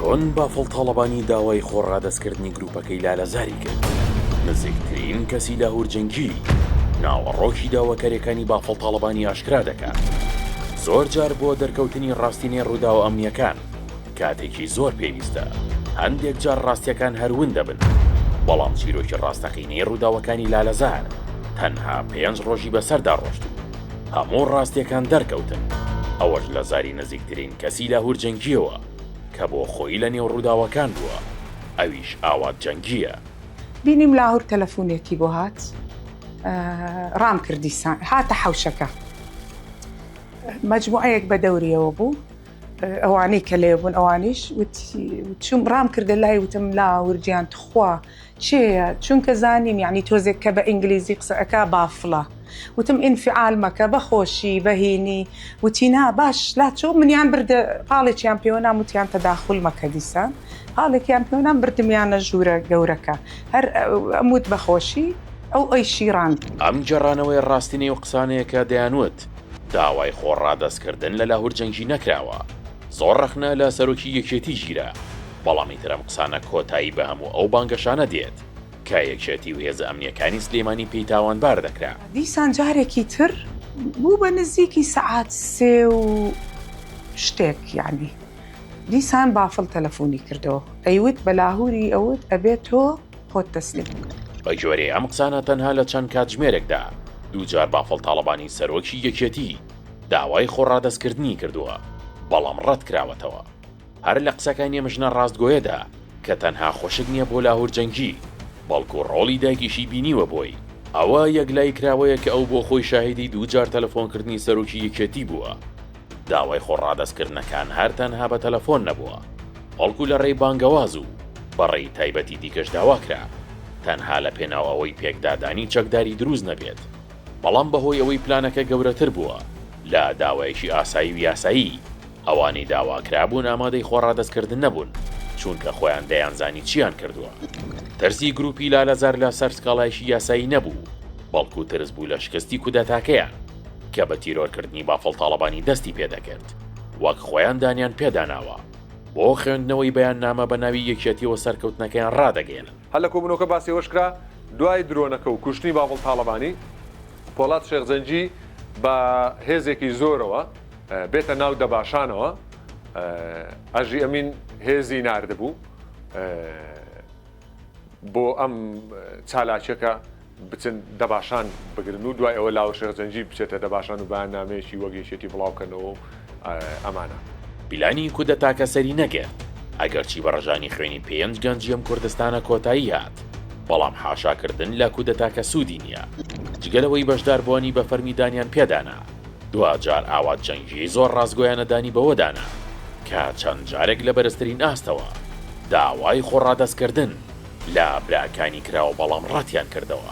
چۆن بافڵ تاڵەبانی داوای خۆڕادەستکردنی گروپەکەی لالەزاری کرد؟ نزیکترین کەسی لاهور جەنگی ناوەڕۆکی داواکاریەکانی بافڵ تاڵەبانی ئاشکرا دەکات زۆر جار بۆ دەرکەوتنی ڕاستینەی ڕووداوە ئەمنیەکان کاتێکی زۆر پێویستە هەندێک جار ڕاستیەکان هەرون دەبن بەڵام چیرۆکی ڕاستەقینەی ڕووداوەکانی لالەزار تەنها پێنج ڕۆژی بەسەردا ڕۆشتوو هەموو ڕاستیەکان دەرکەوتن ئەوەش لە زاری نزیکترین کەسی لاهور جەنگیەوە کە بۆ خۆیی لە نێو ڕووداوەکان بووە ئەویش ئاوات جەنگیە. بینیم لاهور تەلەفونێکی بۆ هات ڕام کرد دیسان هاتە حەوشەکە مەجموعەیەک بە دەوریەوە بوو ئەوانەی کە لێ بوون ئەوانیش وتی چوم ڕام کردە لای وتم لاهور گیان تخوا کێیە چونکە زانیم یەعنی تۆزێک کە بە ئینگلیزی قسە ئەکا بافڵە وتم ئینفعال مەکە بە خۆشی بە هینی وتی نا باش لا چۆ منیان بردە پاڵێکیان پێوە نام وتیان تەداخول مەکە دیسان پاڵێکیان پێوە نام بردمیانە ژوورە گەورەکە هەر ئەم وت بە خۆشی ئەو ئەیشی ڕاند. ئەم گێڕانەوەیە ڕاستینەی و قسانەیە کە دەیان وت داوای خۆ ڕادەست کردن لە لاهور جەنگی نەکراوە زۆر ڕەخنە لە سەرۆکی یەکێتی گیرا. بەڵام ئیتر ئەم قسانە کۆتایی بە هەموو ئەو بانگەشانە دێت کە یەکێتی و هێزە ئەمنییەکانی سلێمانی پێی تاوانبار دەکرا. دیسان جارێکی تر بوو بە نزیکی سەعات سێ و شتێک یانی دیسان بافڵ تەلەفۆنی کردەوە ئەیوت بە لاهوری ئەوت ئەبێ تۆ خۆت تەسلیم بکەی. بە گوێرەی ئەم قسانە تەنها لە چەند کاتژمێرێکدا دوو جار بافڵ تاڵەبانی سەرۆکی یەکێتی داوای خۆڕادەستکردنی کردووە بەڵام ڕەتکراوەتەوە. هەر لە قسەکانی ئەم ژنە ڕاستگۆیەدا کە تەنها خوشک نییە بۆ لاهور جەنگی، بەڵکو ڕۆڵی دایکیشی بینیوە بۆی، ئەوە یەکلایی کراوەیە کە ئەو بۆ خۆی شاهیدی دوو جار تەلەفۆنکردنی سەرۆکی یەکێتی بووە. داوای خۆڕادەستکردنەکان هەر تەنها بە تەلەفۆن نەبووە، بەڵکو لە ڕێی بانگەواز و بە ڕێی تایبەتی دیکەش داوا کرا، تەنها لە پێناو ئەوەی پێکدادانی چەکداری دروست نەبێت، بەڵام بە هۆی ئەوەی پلانەکە گەورەتر بووە لە داوایەکی ئاسایی و یاسایی، ئەوانەی داواکرابوون ئامادەی خۆڕادەستکردن نەبوون، چوونکە خۆیان دەیانزانی چییان کردووە. ترسی گرووپی لالەزار لە سەر سکاڵایەکی یاسایی نەبوو، بەڵکو ترس بوو لە شکستی کودەتاکەیان، کە بە تیرۆرکردنی بافڵ تاڵەبانی دەستی پێ دەکرد، وەک خۆیان دانیان پێدا ناوە. بۆ خوێندنەوەی بەیاننامە بە ناوی یەکیەتیەوە سەرکەوتنەکەیان ڕادەگەیەنن. هەر لە کۆبوونەوەکە باسی ئەوەش کرا، دوای درۆنەکە و کوشتنی بافڵ تاڵەبانی، پۆڵات شێخ جەنگی بە هێزێکی زۆرەوە، بێتە ناو دەباشانەوە ئەژی ئەمین هێزی نردبوو بۆ ئەم چالاکیەکە بچن دەباشان بگرن و دوای ئەوە لاوە شێخجەنجی بچێتە دەباشان و بەیان نامەیەکی وەگەیشێتی بڵاوکەنەوە ئەمانە پیلانی کودە تاکە سەری نەگرت ئەگەرچی بە ڕژانی خوێنی پێنج گەنجی ئەم کوردستانە کۆتایی هات بەڵام حاشاکردن لە کودەتاکە سوودی نییە جگەلەوەی بەشداربووانی بە فەرمی دانیان پێدانا دواجار ئاوات جەنگی زۆر ڕاستگۆیانە دانی بەوە دانا کە چەند جارێک لە بەرزترین ئاستەوە داوای خۆڕادەستکردن لە براکانی کراوە بەڵام ڕەتیان کردەوە.